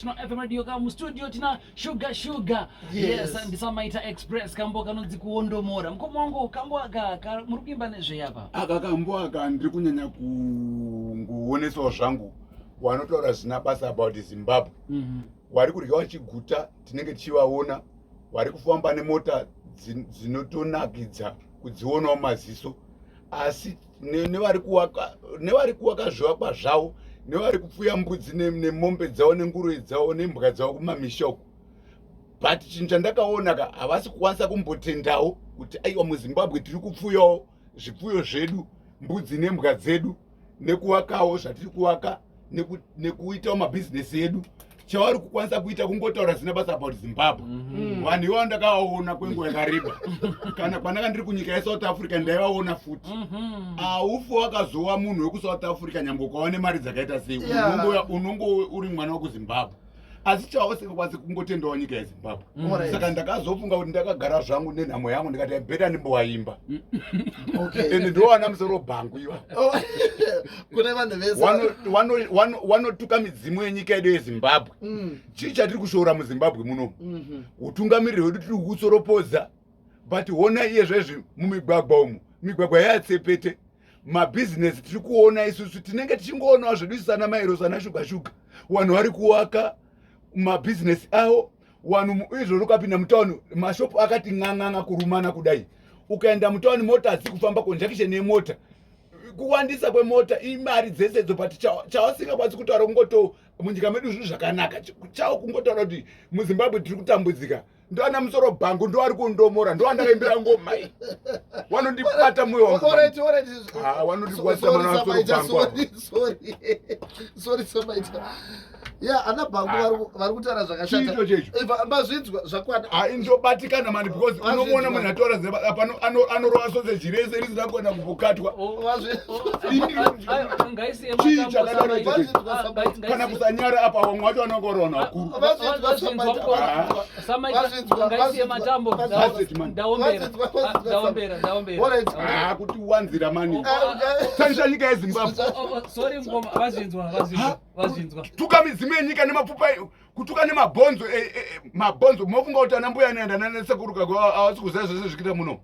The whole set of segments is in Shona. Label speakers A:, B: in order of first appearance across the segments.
A: tino fm radio ka mustudio tina shuga shuga yes ndisamaita express kambo kanonzi kuondomora mukoma wangu kambo aka muri kuimba nezvei apa aka kambo aka ndiri kunyanya kungoonesawo zvangu wanotaura zvina basa about zimbabwe mhm. wari kudya vachiguta tinenge tichivaona wari kufamba nemota dzinotonakidza kudzionawo maziso asi nevari kuwaka zvivakwa zvavo nevari kupfuya mbudzi nemombe dzavo nenguruve dzavo nembwa dzavo kumamisha uko but chinhu chandakaona ka havasi kukwanisa kumbotendawo kuti aiwa muzimbabwe tiri kupfuyawo zvipfuyo zvedu mbudzi nembwa dzedu nekuwakawo zvatiri kuwaka nekuitawo mabhizinesi edu chavari kukwanisa kuita kungotaura zina basa about zimbabwe mhm. vanhu ivavo ndakavaona kwenguva yakareba kana kwanaka ndiri kunyika yesouth africa ndaivaona futi mhm. aufi wakazowa munhu wekusouth africa nyangwe ukava nemari dzakaita sei unongo uri mwana wekuzimbabwe asi chavo singakwanisi kungotendawo nyika yezimbabwe mm. saka ndakazofunga kuti ndakagara zvangu nenhamo yangu ndikati beta ndimbowaimba and ndowana musoro bhangu iva oh, kune vanhu vese wanotuka midzimu yenyika yedu yezimbabwe mm. chii chatiri kushoora muzimbabwe munomu mhm. utungamiriri hwedu tiri kukusoropodza but hona iye zvezvi mumigwagwa umu migwagwa yatsepete mabhizinesi tiri kuona isusu tinenge tichingoonawo zvedu isu ana mairo sana shuga shuga vanhu vari kuwaka mabhizinesi avo vanhu izvozvo ukapinda mutauni mashopu akati n'an'anga kurumana kudai ukaenda mutauni mota hadzisi kufamba conjunction yemota kuwandisa kwemota imari dzese dzo but chawasingakwanisi kutaura kungoto munyika medu zvinhu zvakanaka chawo kungotaura kuti muzimbabwe tiri kutambudzika ndoana musoro bhangu ndoari kundomora ndoandakaimbira ngoma iyi wanondibata moyo wangondiwaisamanaasorobhangu ya ana bhangu ah. vari kutaura zvakashatachiito checho mazvinzwa zvakwana ah, ndobatikana mani because unomuona munhu ataura zepano anorova sose zvirese risina kuona kumbokatwa oh, kana kusanyara apa vamwe vacho vanenge varaona vakurukuti wanzira mani taisa nyika yezimbabwetuka midzimu yenyika nemapfupa kutuka nemabhonzo mabhonzo mofunga kuti anambuya anoenda nanasekuru kako avasi kuziva zvese zvikita muno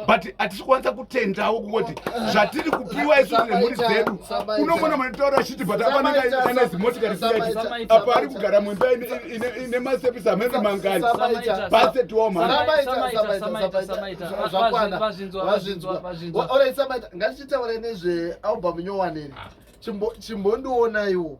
A: but hatisi kwanisa kutendawo kungoti zvatiri kupiwa isu nemhuri dzedu unomona manotaura achiti but apanekana zimotikari siyaiti apa ari kugara muimba ine masepisi amene mangani base tiwomhangaitichitaure nezvealbum nyowaneni chimbondionaiwo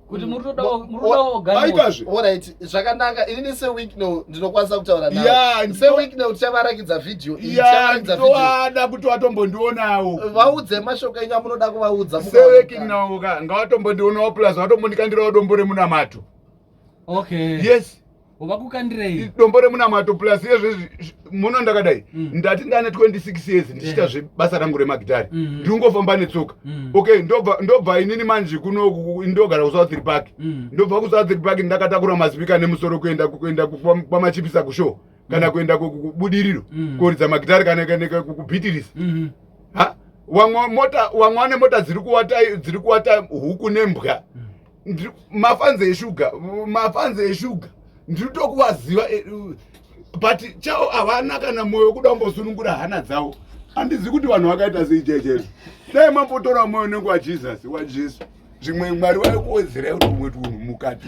A: kuti muri todaogaitazve orit zvakanaka inini sewicknow ndinokwanisa kutaura nao sewicknow tichavarakidza vhidhiyo iiaada kuti watombondionawo vaudze mashoko enyu amunoda kuvaudza sewicknow ka ngawatombondionawo plus watombondikandirawo dombo remunamato okay yes vakukandirei dombo remunamato plus yezvezvi muno ndakadai mm. ndati ndane 26 years ndichiita zvebasa rangu remagitari mm. Mm-hmm. ndingofamba netsoka mm. okay ndobva inini manji kuno ndogara kusouthri park mm. ndobva kusouthri park ndakatakura mazipika nemusoro kuenda kuenda kwamachipisa kushow kana mm. kuenda kubudiriro mm. koridza magitari kana kubitirisa mm-hmm. ha wamwa mota wamwa nemota dziri kuwata dziri kuwata huku nembwa mm. mafanzi eshuga mafanzi eshuga ndiri tokuvaziva eh, but chao havana kana mwoyo kuda kumbosunungura hana dzavo handizivi kuti vanhu vakaita sei jejesu dai mambotora mwoyo nenguva jesus wajesu zvimwe mwari vaikuwedzera kuti umwe tunhu mukati